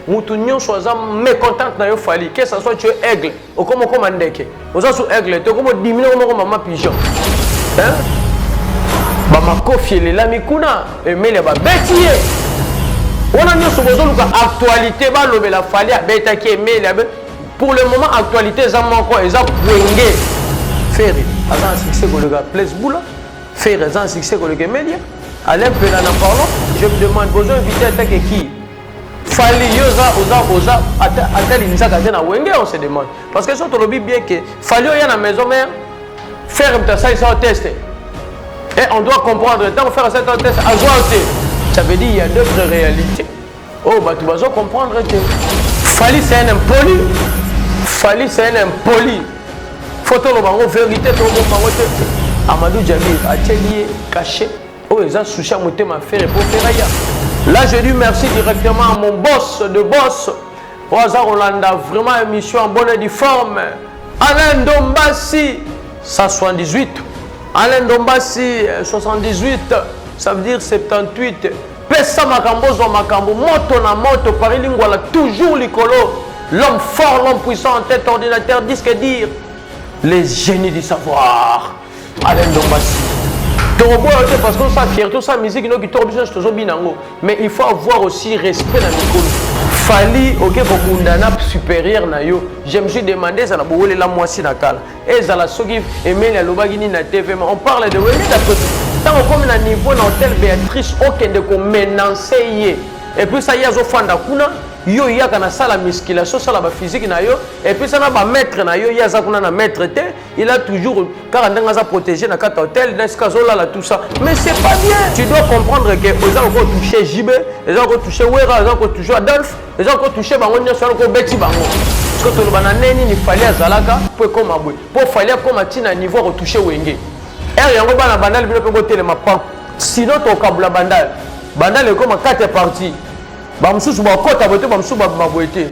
mutu nyonso aza mécontente na yo fali que ça soit tu es aigle okoma okoma ndeke oza su aigle te okoma odimine okoma okoma ma pigeon hein? bamakofi elelami kuna emeli ya babeti ye wana nyonso bozoluka actualité balobela fali abetaki emeli abe pour le moment actualité eza moko eza kwenge ferre aza na succès koleka place bula ferre aza na succès koleka emelia alain mpela na parlon je me demande bozo invité atake kii Fally yo oza oza oza ata ata linzaka te na wenge on se demande parce que soki tolobi bien que Fally oya na maison mère faire moto asalisa yo test et on doit comprendre ntango faire asalisa yo test azwa yo te ça veut dire il y a d'autres réalités oyo oh, bato bazo comprendre te Fally c'est un impoli Fally c'est un impoli faut toloba yango vérité tolobomba yango te Amadou Djabir atieli ye cachet oyo eza sushi ya motema fere po fera ya là je dis merci directement à mon boss de boss oyo aza kolanda vraiment émission en bonne et due forme alain ndombasi 178 alain ndombasi 78 euh, ça veut dire 78 pesa makambo ozwa makambo moto na moto paris lingwala toujours likolo l'homme fort l'homme puissant en tête ordinateur disque dire les génies du savoir Alain Dombasi. tokoboya te parce que osala fierté osala miziki no kitoko biso nyonso tozobina yango mais il faut avoir aussi respect na mikolo fali oke kobunda na supérieur na yo je me suis demandé ezala bowelela mwasi na kala ezala soki emeli alobaki nini na tv ma on parle de weli na pesi ntango okomi na niveau na hotel béatrice okende komenance ye epuis sa ye azofanda kuna yo yaka na sala musculation osala baphysique na yo epuis sa na bamaître na yo ye aza kuna na maître te Il a toujours, car ndenge aza protégé na kata hotel, na esika azolala tout ça. Mais c'est pas bien. Tu dois comprendre que eza ko toucher JB, eza ko toucher Wera, eza ko toucher Adolphe, eza ko toucher bango nyoso eza ko beti bango. Parce que toloba na neni ni fali azalaka po ekoma boye. Po fali akoma tina niveau ko toucher Wenge. Er yango bana bandal bino pe botelema pa. Sinon tokabula bandal. Bandal ekoma 4 parties. Ba mususu bakota boye te ba mususu babima boye te.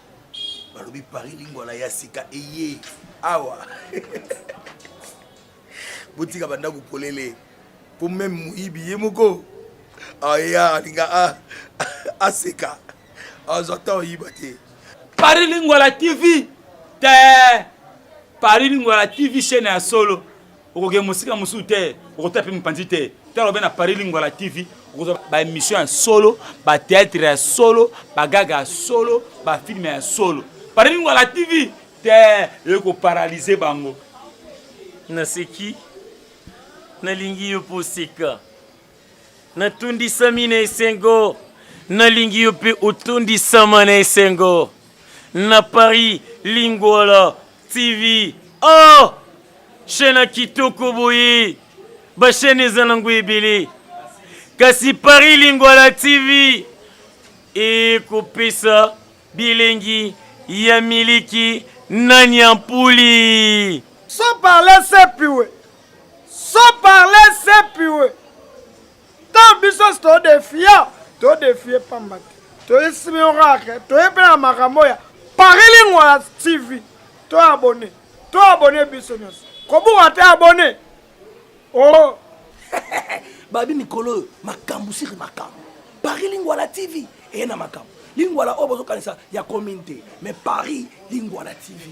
balobi paris lingwala ya sika eye awa botika bandako polele mpo meme moyibi ye moko aya alinga aseka azwa ntan oyiba te paris lingwala tv te paris lingwala tv chaine ya solo okokende mosika mosusu te okotala mpe mopanzi te tala obe na paris lingwala tv okozwa baémission ya solo bateatre ya solo bagaga ya solo bafilme ya solo paris lingwala tv te eyoki koparalyse bango naseki nalingi yo mpo oseka Natondisami na esengo, nalingi yo mpe otondisama na esengo. Na Paris, Lingwala TV. Oh! Chaîne ya kitoko boye. Ba chaîne eza nango ebele. Kasi Paris Lingwala TV ekopesa bilengi ya miliki na nyampuli. Sans parler sepiwe. Sans parler c'est pure. Tant biso to defia, to defie pamba te. To esimi oracle, to epela makambo ya Paris Lingua TV. To abonné. To abonné biso nyonso. Kobuka te abonné. Oh. Babi mikolo makambo siri makambo. Paris Lingua la TV et na makambo. Lingua la oyo bozokanisa ya commune te, mais Paris Lingua la TV.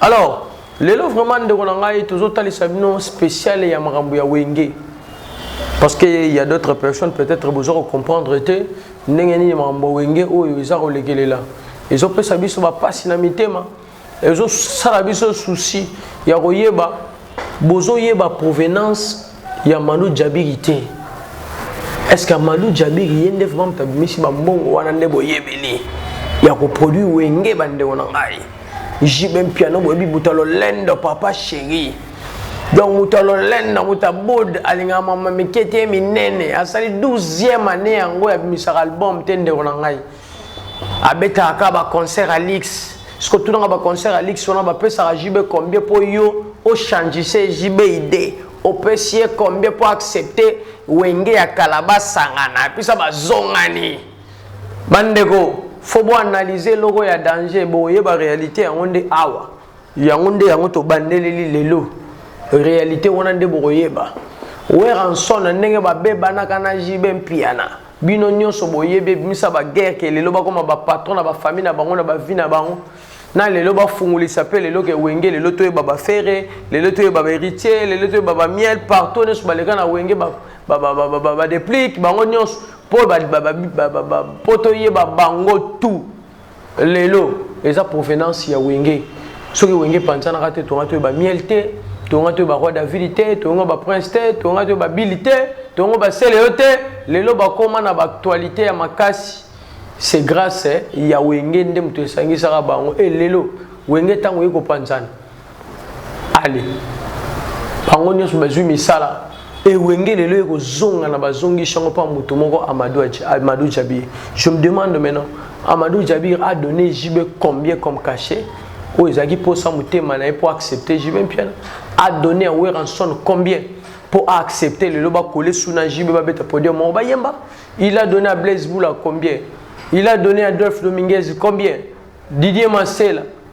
Alors, lelo vraiment ndeko na ngai tozotalisa bino spécial ya makambo ya wenge parce que il y a d'autres personnes peut-être boza kocomprendre te ndenge nini makambo ya wenge oyo eza kolekelela ezopesa biso bapasi na mitema ezosala biso souci ya koyeba bozoyeba provenance ya malu jabiri te est ce que malu jabiri ye nde vraiment moto abimisi bambongo wana nde boyebeli ya koproduit wenge bandeko na ngai jibe mpiano boyebi moto ya lolendo papa chéri donc moto ya lolendo moto abod alingaka mama mike te minene asali 12e année yango ya bimisaka album te ndeko na ngai abetaka kaka ba concert ya luxe soki otunaka ba concert ya luxe wana bapesaka jb combien mpo yo ochangise jb ide opesi ye combien mpo accepte wenge ya kala basangana epesa bazongani bandeko fo boanalyse eloko ya danger boyeba réalité yango nde awa yango nde yango tobandeleli lelo realite wana nde bokoyeba weranson na ndenge babebanaka na jibe mpiana bino nyonso boyebi ebimisa baguerre ke lelo bakoma bapatron na bafamille na bango na bavi na bango na lelo bafungolisa mpe lelo ke wenge lelo toyeba bafere lelo toyeba baheritier lelo toyeba bamiel partout nyonso baleka na wenge badeplike bango nyonso mpo toyeba bango tout lelo eza provenance ya wenge soki wenge epanzanaka te tonga toyeba miel te tonga toyeba roi david te tonga baprince te tonga toyeba bili te tonga basele yo te lelo bakoma na baactualité ya makasi c'est grâce ya wenge nde moto esangisaka bango e lelo wenge ntango oye kopanzana ale bango nyonso bazwi misala ewenge lelo ekozonga na bazongisi yango mpo moto moko amadou jabir je me demande maintenant amadou jabir a donné jb combien comme cachet oyo ezalaki mposa motema na ye mpo accepte jb mpiana a donné ya weranson combien mpo aaccepte lelo bakole suna jb babeta podium moko bayemba il a donné ya blaise boula combien il a donné ya dolphe dominguez combien didier masela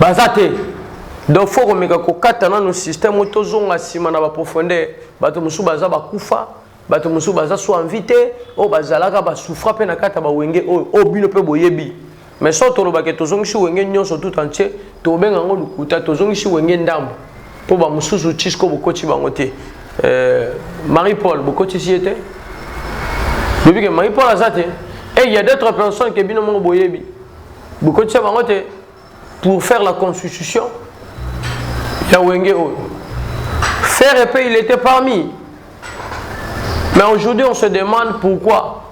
Baza te. Donc faut komeka kokata nanu système oyo tozonga nsima na ba profondeur. Bato mosusu baza bakufa, bato mosusu baza so envie te, oyo bazalaka ba souffra mpe na kati ya ba wenge oyo, oyo bino mpe boyebi. Mais soki toloba ke tozongisi wenge nyonso tout entier, tokobenga yango lokuta, tozongisi wenge ndambu. Mpo ba mosusu ti sikoyo bokoti bango te. Euh, Marie Paul bokotisi ye te? Lobi ke Marie Paul aza te? Et il y a d'autres personnes ke bino moko boyebi. bokotisa bango te pour faire la constitution ya wenge oyo faire epe il était parmi mais aujourd'hui on se demande pourquoi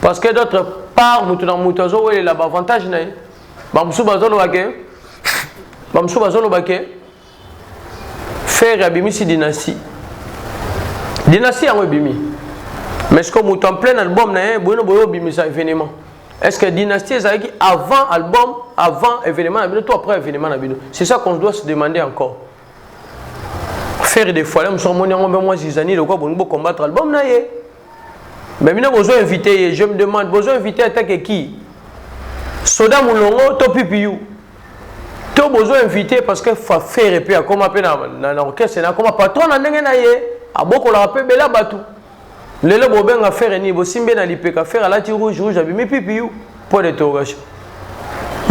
parce que d'autre part moto na moto azowelela baavantage na ye bamosusu bazoloba ke bamosusu bazoloba ke ferre abimisi dynastie dynastie yango ebimi mais sikoyo moto en plein album na ye boyino boye obimisa événement est ce que dynastie ezalaki avant album avant événement na bino to après événement na bino c'est ça qu'on doit se demander encore ferre de foile mosu amoni yango mpe mwa zizani lokola bolingi bocombattre album na ye Mais bino bozo inviter ye, je me demande bozo inviter ata ke qui? Soda Mulongo to PPU? To bozo inviter parce que fa faire pe akoma pe na na, na orchestre na akoma patron na ndenge na ye, abokola pe bela batu. Lelo bobenga faire ni bosimbe na lipeka faire alati rouge rouge abimi PPU point d'interrogation.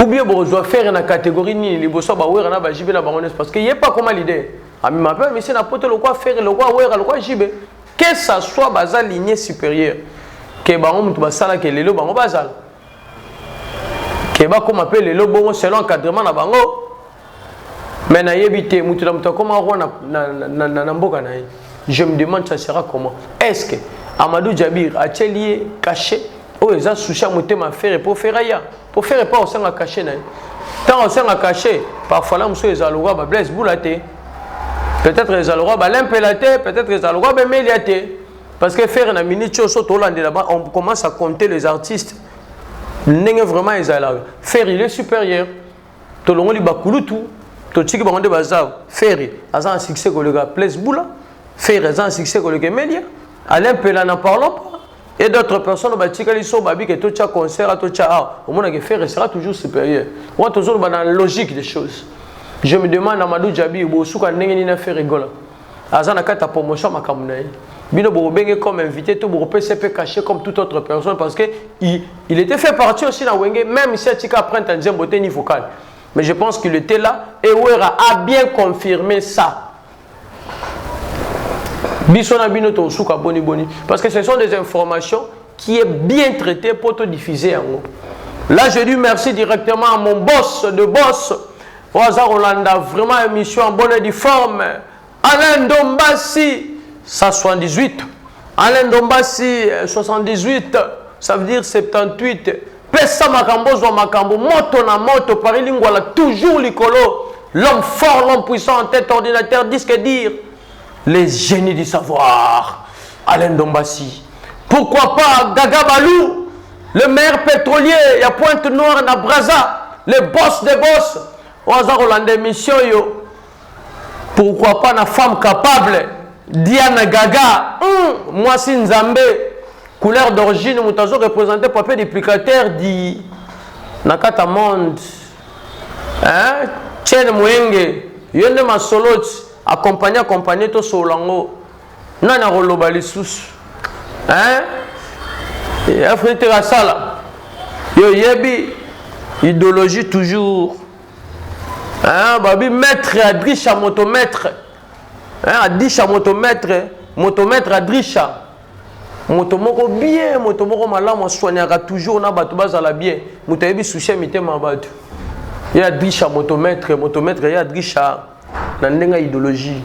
Ou bien bozo faire na catégorie nini liboso ba wera na ba jibe na bango parce que ye pa koma leader. Ami ma pe monsieur na poto lokwa faire lokwa wera lokwa jibe. Que ça soit baza lignee superieur que bango mutu basala que lelo bango bazala que bakoma mpe lelo bongo selon encadrement na bango mais nayebi te mutu na mutu akoma roi na, na, na, na, na mboka na ye je me demande ça sera comment est ce que amadou jabir atieli ye cachet oyo eza sushi ya motema fere mpo fere aya mpo fere mpo aosanga kashe na ye ntango aosanga kashe parfois na mosusu ezala lokwa bablaise bula te peut-être ezala lokola balempela te peut-être ezala lokola bemelia te parce que faire na minute oyo so tolandela ba on commence à compter les artistes ndenge vraiment ezalaka faire il est supérieur tolongoli bakulutu totiki bango nde baza ferre aza na succès koleka place bula ferre aza na succès koleka emelia alain pela na parlons pas Et d'autres personnes batikali so babi que to tia concert to tia ah omona que Ferre sera toujours supérieur. Moi toujours ba dans la logique des choses. Je me demande à Madou Djabi bo suka ndenge ni na Ferre Gola. Aza na kata promotion makambo na ye. Bino bo benge comme invité to bo pese pe caché comme toute autre personne parce que il, il était fait partie aussi na Wenge même si atika après un nzembo te ni vocal. Mais je pense qu'il était là et Wera a bien confirmé ça. biso na bino tosuka boni boni parce que ce sont des informations qui est bien traité pour te diffuser yango là je dis merci directement à mon boss de boss oyo aza kolanda vraiment émission en bonne et due forme alain ndombasi 178 alain ndombasi 78 ça veut dire 78 Pesa makambo ozwa makambo moto na moto Paris Lingwala toujours likolo l'homme fort l'homme puissant en tête ordinateur disque dire les génies du savoir Alain Dombassi pourquoi pas Gaga Balou le meilleur pétrolier il y a Pointe Noire na Brazza le boss des boss oyo aza kolanda émission yo Pourquoi pas na femme capable Diana Gaga, hum, mwasi nzambe, couleur d'origine moto azo représenter papier duplicateur di na kata monde. Hein? Chen Mwenge, yo nde masolo accompagné accompagné to solango. Nani akoloba lisusu? Hein? Afrique asala. Yo yebi idéologie toujours Hein, babi maître adrisha moto maître hein, adisha moto maître moto maître adrisha moto moko bien moto moko malamu aswaniaka toujours na bato bazala bien moto ayebi susi ya mitema ya bato ye adrisha moto maître moto maître ye adrisha na ndenge ya ideologie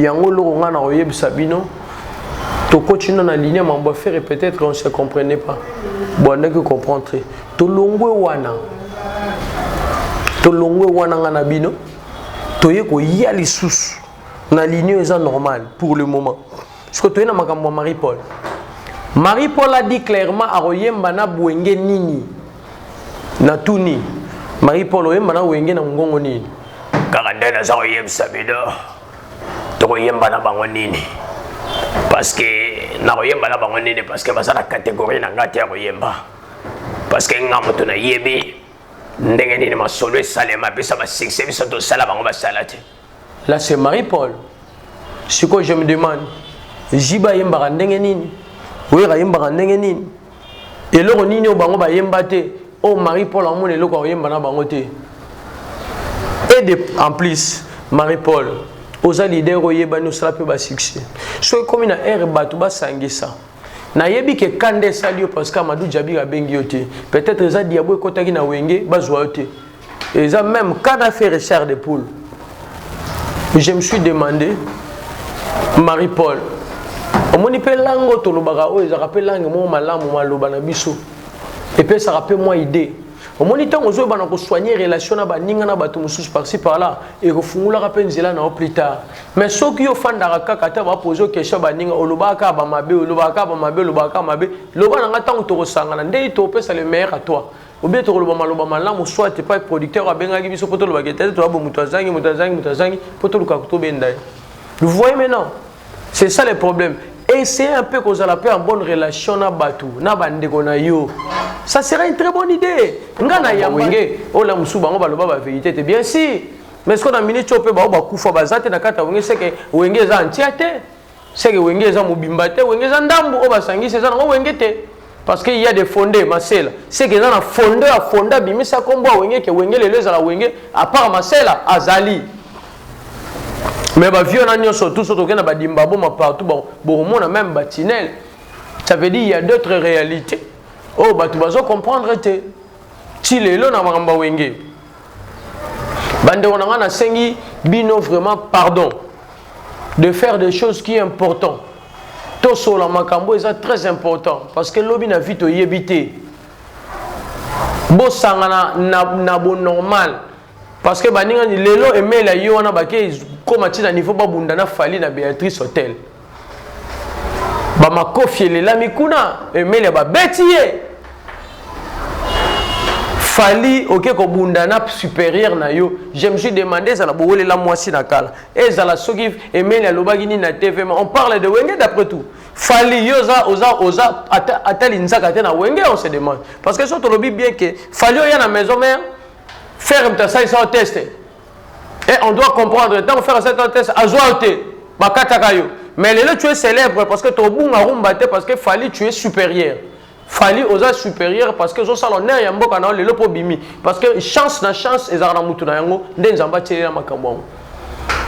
yango eloko ngai nakoyebisa bino tokoti na na ligne ya mambo ya fere peut-être on se comprenait pas boandaki comprendre te tolongwe wana tolongwe wana ngai na bino toye koya lisusu na ligne oyo eza normale pour le moment Siko toye na makambo ya Marie Paul. Marie Paul a dit clairement akoyemba na bwenge nini? Na tuni. Marie Paul oyemba na wenge na ngongo nini? Kaka nde naza koyebisa bino tokoyemba na bango nini? Parce que nakoyemba na bango nini? Parce que baza na catégorie na ngai te ya koyemba. Parce que nga moto nayebi ndenge nini masolo esalema bisa basuccès biso tosala bango basala te Là c'est Marie-Paul. Siko je me demande, Jiba yembaka ndenge nini? Wera yembaka ndenge nini? Eloko nini oyo bango bayemba te? Oyo Marie-Paul amona eloko akoyemba na bango te? Et de, en plus, Marie-Paul, oza leader oyebani osala mpe basuccès. Soki ekomi na ere bato basangisa, nayebi ke kanda esali yo parce que Amadou Djabir abengi yo te. Peut-être eza diabo ekotaki na wenge bazwa yo te. eza meme kada fere char de poule je me suis demandé marie paul omoni mpe langue oyo tolobaka oyo ezalaka mpe langue moko malamu maloba na biso epesaka mpe mwa idee omoni ntango ozoyeba na kosoigne relation na baninga na bato mosusu parci parla ekofungulaka mpe nzela na yo plus tard mais soki yo ofandaka kaka ata bapoze okesha baninga olobaka kaka bamabe olobaka kaka bamabe olobaka kaka mabe loba na ngai ntango tokosangana ndenge topesa le meilleur à toi Ou bien tokoloba maloba malamu soit epai producteur abengaki biso mpo tolobaka etali toyabo moto azangi moto azangi moto azangi mpo toluka kotobenda ye. Vous voyez maintenant C'est ça le problème. Essayez un peu kozala mpe en bonne relation na bato na bandeko na yo. Ça sera une très bonne idée. Nga na ya wenge oyo la mosusu bango baloba ba vérité te bien si mais sikoyo na minute oyo mpe bango bakufa baza te na kati ya wenge seke wenge eza antia te Seke wenge eza mobimba te, wenge eza ndambu oyo basangisi eza nango wenge te. Parce que il y a des fondés, Masela. Seke eza na fondé ya fondé abimisa kombo ya wenge ke wenge lelo ezala wenge à part Masela azali. Mais ba vieux na nyoso tous autres na ba dimbabo ma partout bon bomona même ba tinel. Ça veut dire il y a d'autres réalités. Oh batu bazo comprendre te. Ti lelo na makambo wenge. bandeko na ngai nasengi bino vraiment pardon de faire des choses qui est important tosola makambo eza très important parce que lobi na vie toyebi te bosangana na, na bonormal parce que baningani lelo emela yo wana bakei koma ntina niveau babunda na fali na béatrice hotel bamakofi elelami kuna emelia babeti ye fali oke kobunda na superieur na yo je me suis demande ezala bowelela mwasi na kala ezala soki emeli alobaki nini na tvma on parle de wenge d'après tout fali yo oza oza oza ata, ata linzaka te na wenge on se demande parce que so tolobi bien ke fali oya na maison mère ferme tasalisa yo teste Et on doit comprendre, tant que faire cette test, azoua te, bakataka yo. Mais lelo tu es célèbre parce que ton bunga rumba te parce que Fali tu es supérieur. Fali oza supérieur parce que ça l'honneur ya mboka na lelo po bimi parce que chance na chance ezaka na mutu na yango nde nzamba tielela makambo yango.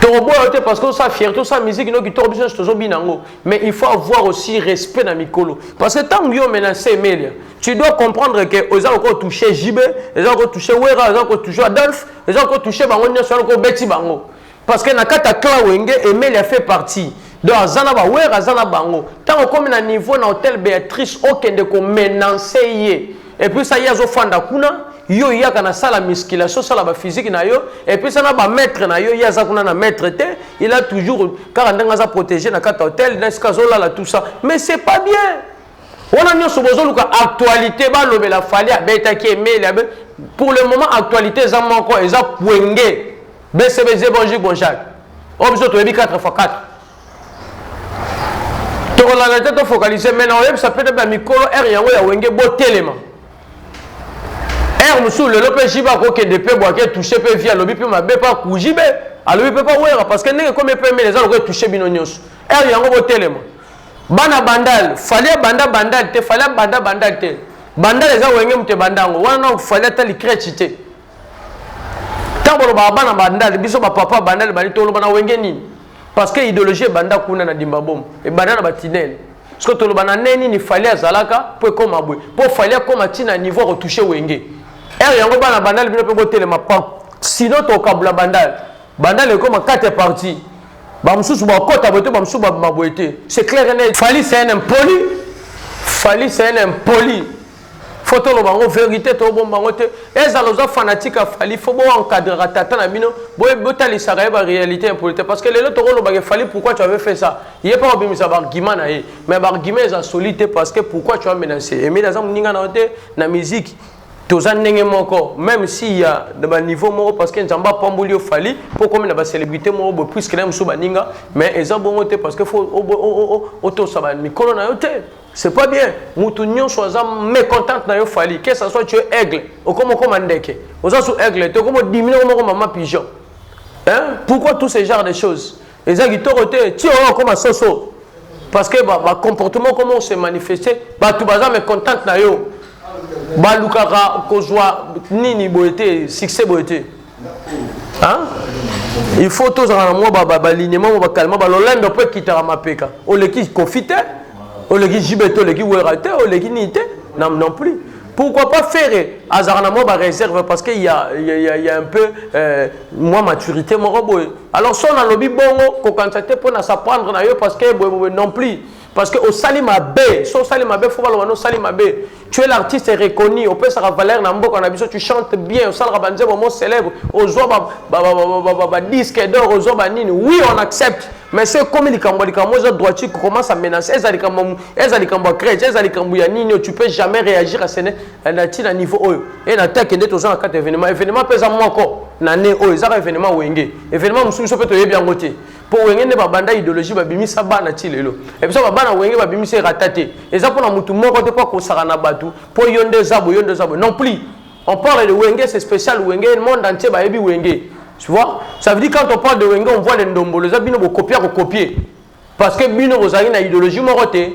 Toroboya te parce que ça fierté ça musique no ki torobo biso tozo binango mais il faut avoir aussi respect na mikolo parce que tant yo menacer melia Tu dois comprendre que oza ko toucher JB, oza ko toucher Wera, oza ko toucher Adolphe, oza ko toucher bango nyoso ko beti bango. Parce que na kata clan Wenge Emeli a fait partie. Donc aza na ba Wera aza na bango. Tango komi na niveau na hôtel Beatrice okende ko menacer ye. Et puis ça yazo fanda kuna yo yaka na sala musculation sala ba physique na yo et puis ça na ba maître na yo yaza kuna na maître te il a toujours kaka ndenge aza protéger na kata hôtel na skazola la tout ça mais c'est pas bien Wana nionso bozo luka actualite ba lobela fali abetaki emeli abe pour le moment actualite eza moko eza kwenge BCBG bonjour bonjour oyo biso toyebi 4 fois 4 tokolanda te tofocalise mai na oyebisa mpe te bamikolo ere yango ya wenge botelema ere mosusu lelo mpe jibe akokende mpe bwake touche mpe vi alobi mpe mabe mpe akujibe alobi mpe mpe wera parce que ndenge ekomi mpe mele eza lokola etouche bino nyonso ere yango botelema Bana bandal, fally abanda bandal te, fally abanda bandal te. Bandal eza wenge moto ebanda yango. Wana nao fally ata likrechi te. Tango bolobaka bana bandal, biso ba papa bandal bani toloba na wenge nini? Parce que idéologie ebanda kuna na Dimbabom, ebanda na ba tunnel. Soki toloba na ne nini fally azalaka po ekoma boye. Po fally akoma ti na niveau ko toucher wenge. Ere yango bana bandal bino pe botelema pam. Sinon tokabula bandal. Banda le koma kate parti. Ba mususu ba kota bote ba mususu ba maboete. C'est clair et net. Fali c'est un impoli. Fali c'est un impoli. Faut to loba ngo vérité to bomba ngo te. Eza loza fanatique a Fali faut bo encadrer tata na bino. Bo botalisa ka ba réalité impolite parce que lelo to ko loba ke Fali pourquoi tu avais fait ça? Il est pas obimisa ba argument na ye. Mais ba argument eza solide parce que pourquoi tu as menacé? Et mais na za muninga na te na musique. toza ndenge moko meme si ya na ba niveau moko parce que nzambe apamboli yo fali mpo okomi na ba célébrité moko boye puiske na mosusu baninga mais eza bongo te parce que fo otosa ba mikolo na yo te c'est pas bien mutu nyonso aza mécontente na yo fali que ça soit tu es aigle okomi okoma ndeke oza su aigle te okomi odimine okomoko mama pigeon hein pourquoi tous ces genres de choses eza kitoko te ti oyo okoma soso parce que ba, ba comportement comment se manifester bato baza mécontente na yo balukaka kozwa nini boye te succès boye te il faut tozala na mwa balignement mwa bakalema balolendo mpo ekitaka mapeka oleki kofi te oleki jibe te oleki wera te oleki nini te non plus pourquoi pas ferre azalaka na mwa baréserve parce que ya, ya, ya, ya un peu euh, mwa maturité moko boye Alors son alobi bongo kokanisa te mpo na s'apprendre na yo parce que boye boye non plus parce que osali mabe so osali mabe fo baloba na osali mabe tu es l'artiste reconnu opesaka valeur na mboka na biso tu chantes bien osalaka banzembo mo célèbre ozwa badisque d'or ozwa banini oui on accepte mais so ekomi likambo ya likambo eza droiture commence à menacer eza likambo ya crèche eza likambo ya nini tu peux jamais réagir à ce Eh, na ntina niveau oyo e eh, na teke nde toza na kati ya événement événement mpe eza moko na ne oyo ezaka événement wenge événement mosusu biso mpe toyebi yango te mpo wenge nde babanda idéologie babimisa bana ti lelo e biso babana wenge babimisa erata te eza mpo na motu moko te mpo akosaka na bato mpo yo nde eza boye yo nde eza boye non plus on parle de wenge c'est spécial wenge monde entier bayebi wenge tu vois ça veut dire quand on parle de wenge on voit le ndombolo eza bino bokopia kokopier parce que bino bozalaki na idéologie moko te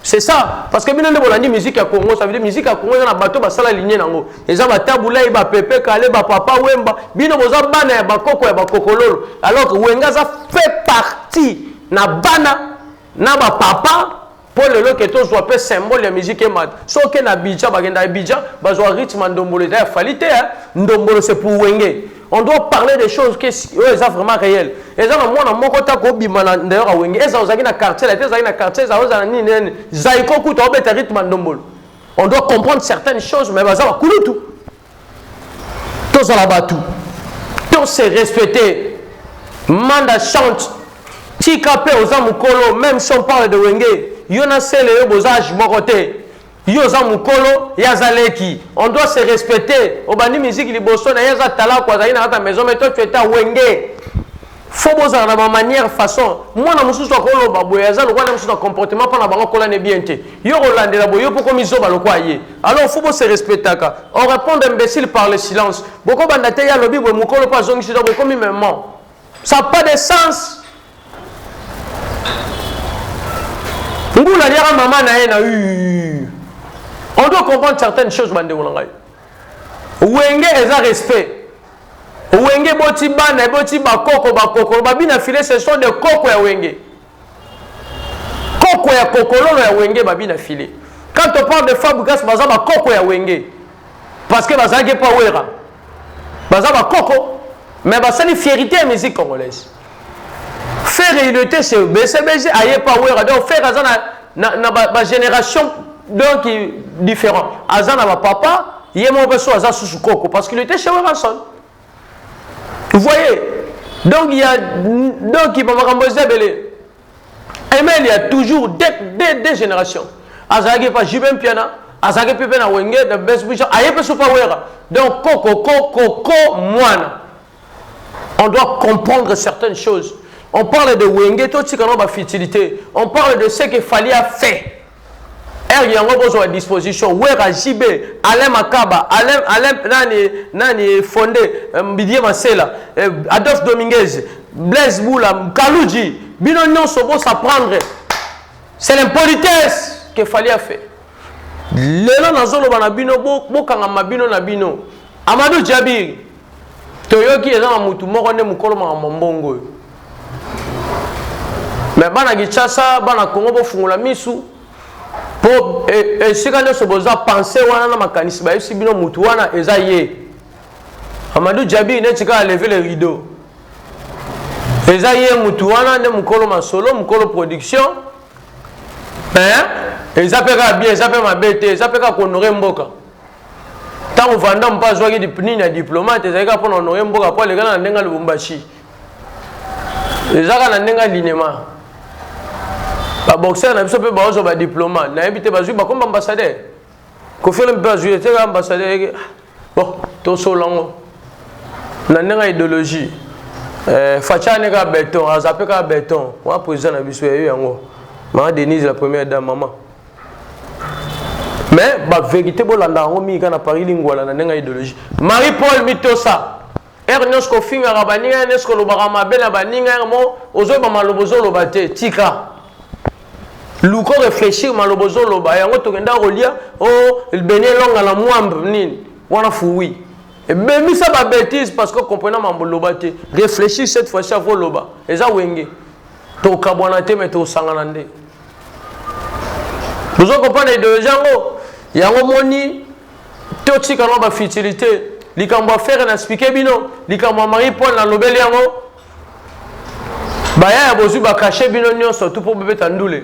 C'est ça, parce que bino nde bolandi musique ya Congo, ça veut dire musique ya Congo eza na bato basala lignée nango. Eza ba Tabulay, ba Pepe Kale, ba Papa Wemba, bino boza bana ya bakoko ya bakokololo. Alors que Wenga za fait partie na bana na ba papa mpo lelo ke tozwa mpe symbole ya musique emata soki na bidja bakenda ya bidja bazwa rythme ya ndombolo eza ya fali te ndombolo se pour wenge On doit parler des choses que oyo eza vraiment réel. Eza na mwana moko ta ko bima na d'ailleurs a wenge. Eza ozaki na quartier, la eza na quartier, eza ozana nini nene. Zaiko kuta obeta rythme ndombolo. On doit comprendre certaines choses mais baza ba kulutu. Tozala batu. To se respecter. Manda chante. Tika pe oza mukolo, même si on parle de wenge. Yona sele yo boza age moko te. Yo oza mukolo ye aza leki on doit se respecter obandi musique liboso na ye aza talaku azali na kati ya maison mais toi tu étais wenge fo bozala na bamanière façon mwana mosusu akoloba boye aza lokola na mosusu na comportement mpo na bango akolani bien te yo kolandela boye yo mpo komi zoba lokola ye alors fo bose respectaka orépondre imbécile par le silence bokobanda te ye alobi boye mokolo mpo azongisi to bokomi maman Ça pas de sens. Ngulu aliaka mama na ye na u. On doit comprendre certaines choses bandeko na ngai. Wenge eza respect. Wenge boti bana, boti bakoko, bakoko, babina filet ce sont des koko ya wenge. koko ya kokololo ya wenge babi na filet quand on parle de fabregas baza bakoko ya wenge parce que bazalaki mpo wera baza bakoko mais basali fierité ya musique congolaise ferre il était chez bcbg aye mpo wera donc ferre aza na, na, na bagénération ba donc différent aza na bapapa ye moko mpe so aza susu koko parce qu'il était chez werason Vous voyez Donc il y a donc il bamakambo eza ebele. Aimé il y a toujours des, des, des générations. Azalaki pa Jibem Piana, azalaki pe pe na Wenge, na Best Bishop, aye pe sopa wera. Donc koko koko ko mwana. On doit comprendre certaines choses. On parle de Wenge, tout ce qu'on a ba futilité. On parle de ce que Fali a fait. Heure yango bozwa disposition Wera JB Alain Makaba Alain Alain nani nani Fonde euh, Mbidie Masela euh, Adolphe Dominguez Blaise Boula Kaluji bino nyonso bo s'apprendre c'est l'impolitesse que Fally a fait lelo nazoloba na bino bokangama bino na bino Amadou Djabiri toyoki eza na mutu moko nde mokolo makambo mbongo oyo me bana kinshasa bana kongo bofungola misu mpo e, esika nyonso boza pense wana na makanisi bayebisi bino mutu wana eza ye amadou jabi neti kaka leve le rideau eza ye mutu wana nde mokolo masolo mokolo production eh? eza mpe kaka bien eza mpe mabe te eza mpe kaka konore mboka ntango vanda mpe azwaki nini ya diplomate ezalaki kaka mpo na onoye mboka mpo alekana na ndenge ya lubumbashi ezaka na ndenge ya linema baboxer na biso mpe baozwa badiplomate nayebi te bazwi bakomba ambassadeur kofiole mpe bazwi eteka ambassadeur bon tosola ngo na ndenge ya idéologie eh, fachane kaka beton aza mpe kaka beton wana président na biso yayo yango mama denise la première dame mama mais ba vérité bolanda yango mingi kaka na paris lingwala na ndenge ya idéologie marie paul mitosa ere nyonso kofingaka baninga ya nyonso kolobaka mabe na baninga yango mo ozoyeba maloba ozoloba te tika luko réfléchir maloba ozoloba yango tokenda kolia o oh, beni elonga na mwambe nini wana fuwi ebemisa babétise parce que comprena mambo loba te réfléchir cette fois ci avoloba eza wenge tokabwana te me tosangana nde bozo comprendre ideologie yango yango moni totika ngo bafutilité likambo ya fere na explike bino likambo ya marie paul nalobeli yango baya ya bozwi bakashe bino nyonso tu mpo bobeta ndule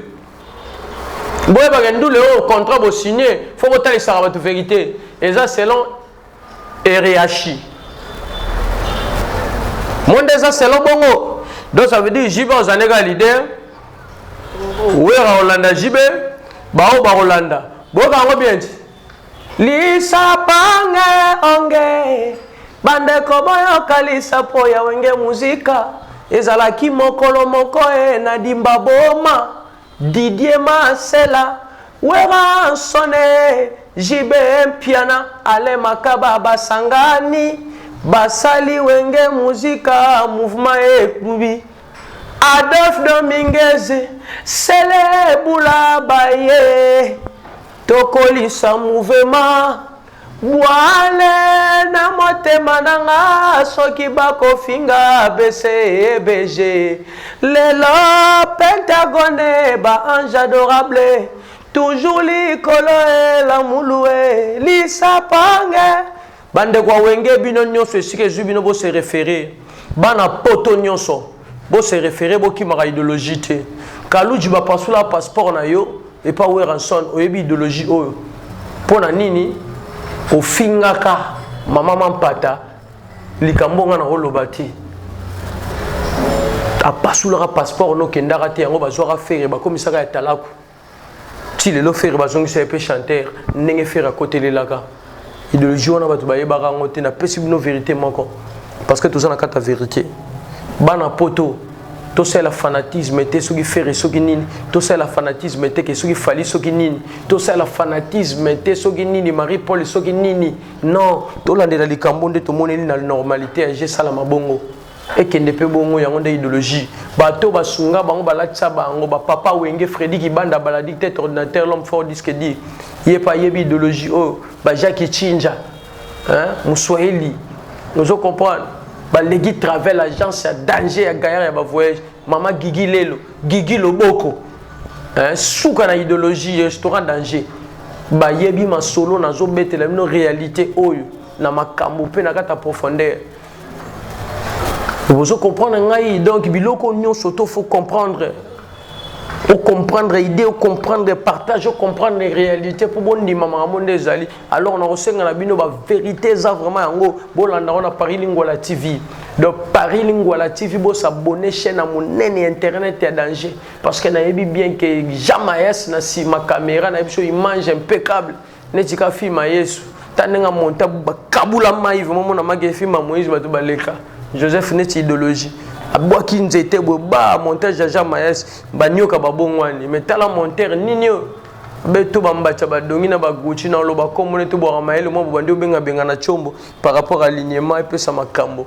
boyebaka ndule oyo contrat bosigne fo botalisaka bato verité eza selon Ereashi. Monde eza selon bongo. Donc ça veut dire JB ozande ka leader. Wera Olanda JB. Bao ba Olanda. Boka yango bien dit. Lisa pange onge. Bande koboyo kalisa po ya wenge muzika. Ezalaki mokolo moko e na dimba boma. Didier Masela, Werra Nsone, JB Mpiana, Alain Makaba basangani basali Wenge Musica Mouvement Ekbubi. Adolphe Dominguez, Sele Bula baye tokolisa mouvement. Bwale na motema na nga soki bako finga BCBG lelo pentagone ba ange adorable toujours likolo eh la mulu eh lisa pange Bandeko ya wenge bino nionso esika ezui bino bo se referer bana poto nionso Bo se referer bo kimaka ideologie te. Kaludji ba pasula passeport na yo epa Werrason oyebi ideologie oyo pona nini ofingaka mama mampata likambo nga na oloba te apasulaka passeport no kendaka te yango bazwaka fere bakomisaka ya talaku ti lelo ferre bazongisa ye mpe chanteur ndenge ferre akotelelaka idéologie wana bato bayebaka yango te napesi bino verité moko parce que toza na kati ya verité bana poto tosalela fanatisme te soki ferre soki nini tosalela fanatisme te ke soki fali soki nini tosalela fanatisme te soki nini marie paul soki nini non tolandela likambo nde tomoneli na normalité ya gesala mabongo ekende mpe bongo yango nde ideologie bato basunga bango balatisa bango bapapa wenge fredi kibanda baladi tete ordinateur l'homme fort disque di ye mpe ayebi ideologie oyo oh, bajaki chinja moswahili ozo comprendre baleki travel agence ya danger ya gayar ya bavoyage mama gigi lelo gigi loboko suka na ideologie restaurant danger bayebi masolo nazobetela bino réalité oyo na makambo mpe na kati ya profondeur Vous comprenez ngai donc biloko nyonso to faut comprendre o comprendre idée o comprendre partage o comprendre réalité mpo bondima makambo nde ezali alors nakosenga na bino baverité eza vraiment yango bolanda ngo na paris lingwala tv donc paris lingwala tv bosabone chaîne ya monene ya internet ya danger parce que nayebi bien que jamayas na nsima caméra na ye biso image impeccable neti ka film ya yesu ta ndenge amonta bakabula mai vraimen mona make film ya moïse bato baleka joseph neti idéologie abwaki nzete boye ba montage ya jean maes banioka babongwani me tala montere nini oyo beto bambacha badongi na baguchi na oloba nkombo neti obwaka mayele mwa bobandi obengabenga na chombo par rapport à lignema epesa makambo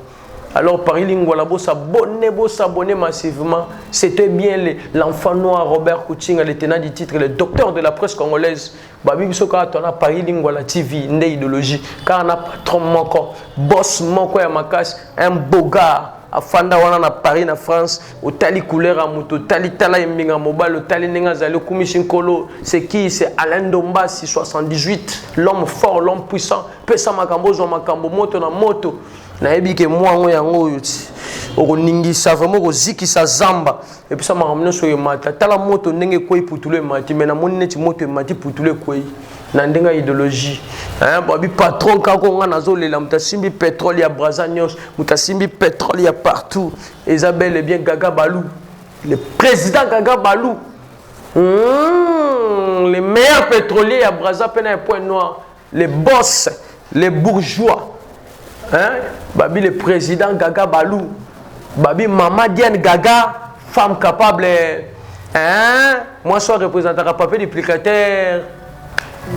Alors Paris Lingwala, vous s'abonnez, vous s'abonnez massivement. C'était bien l'enfant noir Robert Koutinga, le tenant du titre, le docteur de la presse congolaise. babi biso kaka to na paris lingwala tv nde idéologie kaka na patron moko boss moko ya makasi un bogar afanda wana na paris na france otali couleur ya moto otali tala eminga mobali otali ndenge azali okumisi nkolo se qui se alain ndombasi 78 l'homme fort l'homme puissant pesa makambo ozwa makambo moto na moto nayebi ke mwango yango oyo ti okoningisa vraimen okozikisa zamba epesa makambo nyonso oyo emata tala moto ndenge ekwei putulu emati me namoni neti moto emati putulu ekwei na ndenge ya ideologie babi patron kaka ngai nazolela moto asimbi petrole ya braza nyonso moto asimbi petrole ya partout eza bel e bien gaga balou le président gaga balou mmh, le meilleur pétrolier ya braza mpe na ya point noir les boss les bourgeois hein babi le président gaga balou babi mama diane gaga femme capable hein moi soit représentaka papier duplicateur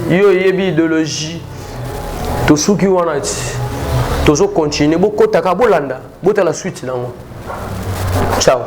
yo oyebi idéologie tosuki wana ti tozo continuer bokotaka bolanda botala suite nango ciao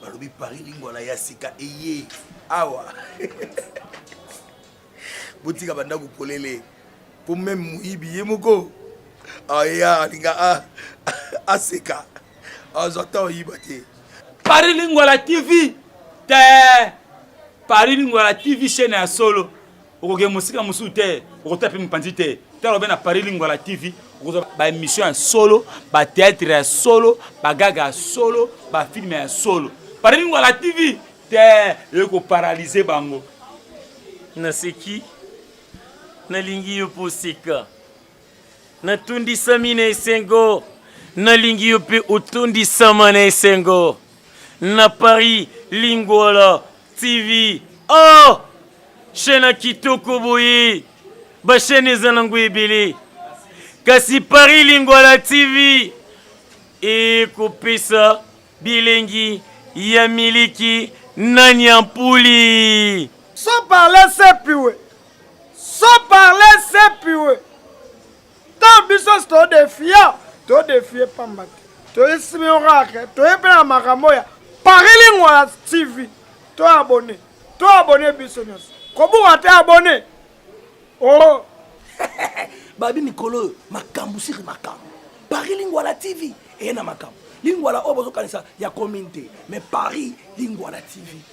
balobi paris lingwala ya sika eye awa botika bandako polele mpo meme moyibi ye moko aya alinga aseka azwa ntan oyiba te paris lingwala tv te paris lingwala tv chaine ya solo okokende mosika mosusu te okotala mpe mopanzi te tala obe na paris lingwala tv okozwa baémission ya solo bateatre ya solo bagaga ya solo bafilme ya solo paris lingwala tv te eyoki koparalyse bango naseki nalingi yo mpo oseka Natondisami na esengo, nalingi yo mpe otondisama na esengo. Na Paris, Lingwala TV. Oh! Chaîne ya kitoko boye. Ba chaîne eza nango ebele. Kasi Paris Lingwala TV ekopesa bilengi ya miliki na nyampuli. Sans parler sepiwe. Sans parler c'est pure. Tant biso to defia, to defie pamba te. To esimi oracle, to epela makambo ya Paris Lingua TV. To abonné. To abonné biso nyonso. Kobuka te abonné. Oh. Babi mikolo makambo siri makambo. Paris Lingua la TV. Et na makambo. Lingua la oyo bozokanisa ya commune te. Mais Paris Lingua la TV.